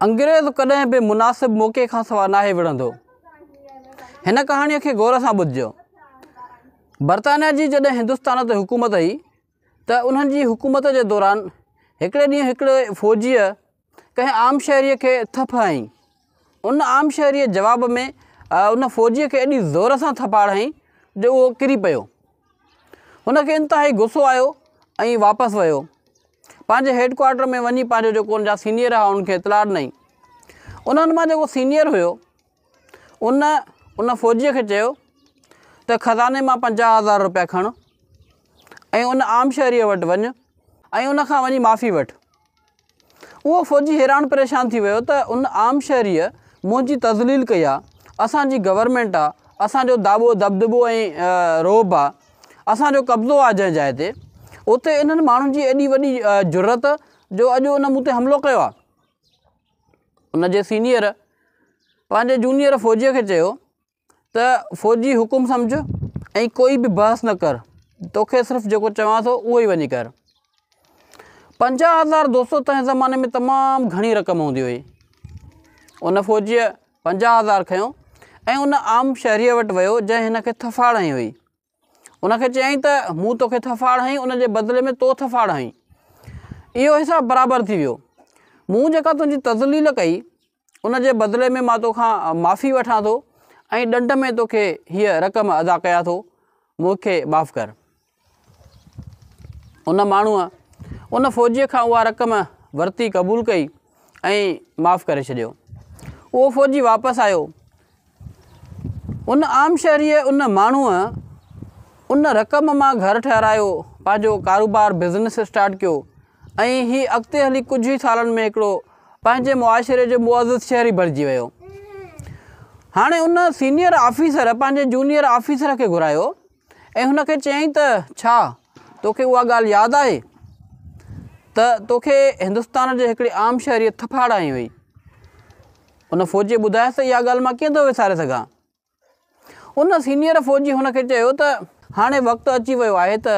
انگريز ڪڏهن به مناسب موقعي کان سوا ناهي وڙهندو. هن ڪهاڻيء کي غور سان ٻڌجو. برطانيا جي جڏهن هندستان تي حڪومت هئي ته انهن جي حڪومت جي دوران هڪڙي ڏينهن هڪڙي فوجيء ڪنهن عام شهريء کي ٿڦ هنئي. ان عام شهريء جواب ۾ ان فوجيء کي ايڏي زور سان ٿڦاڙ هنئي جو اهو ڪري پيو. هن کي انتهائي غصو آيو ۽ واپس ويو پنهنجي هيڊ ڪوارٽر ۾ وڃي پنهنجو جيڪو ان جا سينيئر هئا انهن کي اطلاع ڏنائين انهن مان جيڪو سينيئر هيو ان ان فوجيء کي چيو ته خزاني مان پنجاهه هزار روپيا کڻ ۽ ان عام شهريء وٽ وڃ ۽ ان کان وڃي معافي وٺ اهو فوجي حيران پريشان ٿي ويو ته ان عام شهريء منهنجي تذليل ڪئي آ، اسان جي گورنمينٽ آ، اسان جو داٻو دٻدٻو ۽ رعب آ، اسان جو قبضو آ جنهن جاء تي، اتي انهن ماڻهن جي ايڏي وڏي جرئت جو اڄ ان مون تي حملو ڪيو آ. ان جي سينيئر پنهنجي جونيئر فوجيء کي چيو ته فوجي حڪم سمجهه ۽ ڪوئي به بحث نه ڪر توکي صرف جيڪو چوان ٿو اهو ئي وڃي ڪر پنجاهه هزار دوستو تنهن زماني ۾ تمام گهڻي رقم هوندي هئي ان فوجيء پنجاهه هزار کنيو ۽ ان عام شهريء وٽ ويو جنهن هن کي ٿڦاڙ هنئي هئي ان کي چيائين ته مون توکي ٿڦاڙ هنئي ان جي بدلي ۾ تو ٿڦاڙ هنئي اهو حساب برابر ٿي ويو مون جيڪا تنهنجي تذليل ڪئي ان جي بدلي ۾ مان توکان معافي وٺان ٿو ۽ ڏنڊ ۾ توکي هيء رقم ادا ڪيان ٿو، مون کي معاف ڪر. ان ماڻهوء ان فوجيء کان اها رقم ورتي قبول ڪئي ۽ معاف ڪري ڇڏيو. اهو فوجي واپس آيو. ان عام شهريء ان ماڻهوء ان رقم مان گهر ٺهرايو، پنهنجو ڪاروبار بزنس اسٽارٽ ڪيو ۽ هي اڳتي هلي ڪجهه ئي سالن ۾ هڪڙو پنهنجي معاشري جو معزز شهري بڻجي ويو. هاڻي ان سينيئر آفيسر پنهنجي جونيئر آفيسر کي گهرايو ۽ هن کي چيائين ته ڇا توکي اها ڳالهه ياد آهي ته توکي هندستان جي هڪڙي عام شهريء ٿڦ هاڙائين هئي؟ ان فوجي ٻڌايس ته اها ڳالهه مان ڪيئن ٿو وساري سگهان. ان سينيئر فوجي هن کي چيو ته هاڻي وقت اچي ويو آهي ته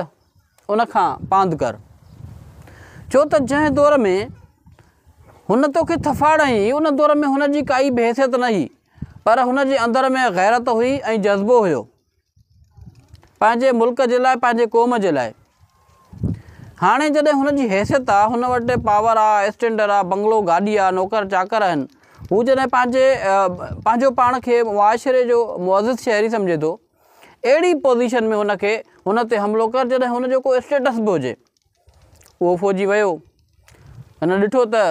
ان کان پاند ڪر. ڇو ته جنهن دور ۾ هن توکي ٿڦاڙ هنئي ان دور ۾ هن جي ڪائي بحيثيت نه هئي پر هن جي اندر ۾ غيرت هئي ۽ جذبو هيو. پنهنجي ملڪ جي لاء پنهنجي قوم جي لاء هاڻي جڏهن هن جي حيثيت آ هن وٽ پاور آ اسٽينڊر آ بنگلو گاڏي آ نوڪر چاڪر آهن هو جڏهن پنهنجي پنهنجو پاڻ کي معاشري جو معزز شهري سمجهي ٿو اهڙي پوزيشن ۾ هن کي هن تي حملو ڪر جڏهن هن جو ڪو اسٽيٽس به هجي اهو فوجي ويو. هن ڏٺو ته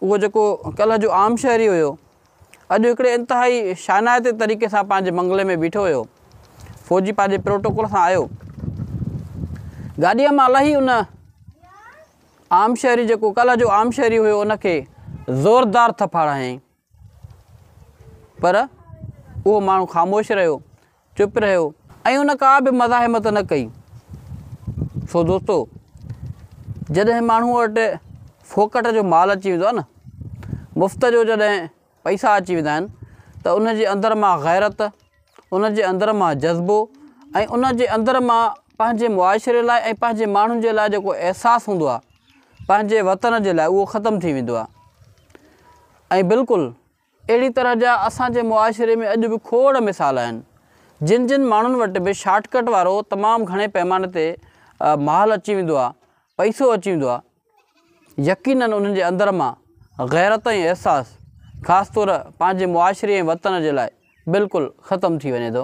اهو جيڪو ڪلهه جو عام شهري هيو، اڄ هڪڙي انتهائي شانائتي طريقي سان پنهنجي بنگلي ۾ بيٺو هيو. فوجي پنهنجي پروٽوڪول سان آيو. گاڏيء مان لهي ان عام شهري جيڪو ڪلهه جو عام شهري هيو ان کي زوردار ٿڦڙ هنيائين. پر اهو ماڻهو خاموش رهيو، چپ رهيو ۽ ان ڪا به مزاحمت نه ڪئي. سو دوستو! جڏهن ماڻهوء وٽ ڦوڪٽ جو مال اچي ويندو آهي نه، مفت جو جڏهن پئسا اچي ويندا آهن ته ان جي اندر مان غيرت، ان جي اندر مان جذبو ۽ ان جي اندر مان پنهنجي معاشري لاء ۽ پنهنجي ماڻهن جي لاء جيڪو احساس هوندو آهي پنهنجي وطن جي لاء اهو ختم ٿي ويندو آهي ۽ بلڪل اهڙي طرح جا اسان جي معاشري ۾ اڄ به کوڙ مثال آهن جن جن ماڻهن وٽ به شارٽ ڪٽ وارو تمام گهڻي پيماني تي مال اچي ويندو آهي پئسو اچي ويندو آهي يقينن انهن جي اندر مان غيرت ۽ احساس خاص طور پنهنجي معاشري ۽ وطن جي لاء بلڪل ختم ٿي وڃي ٿو.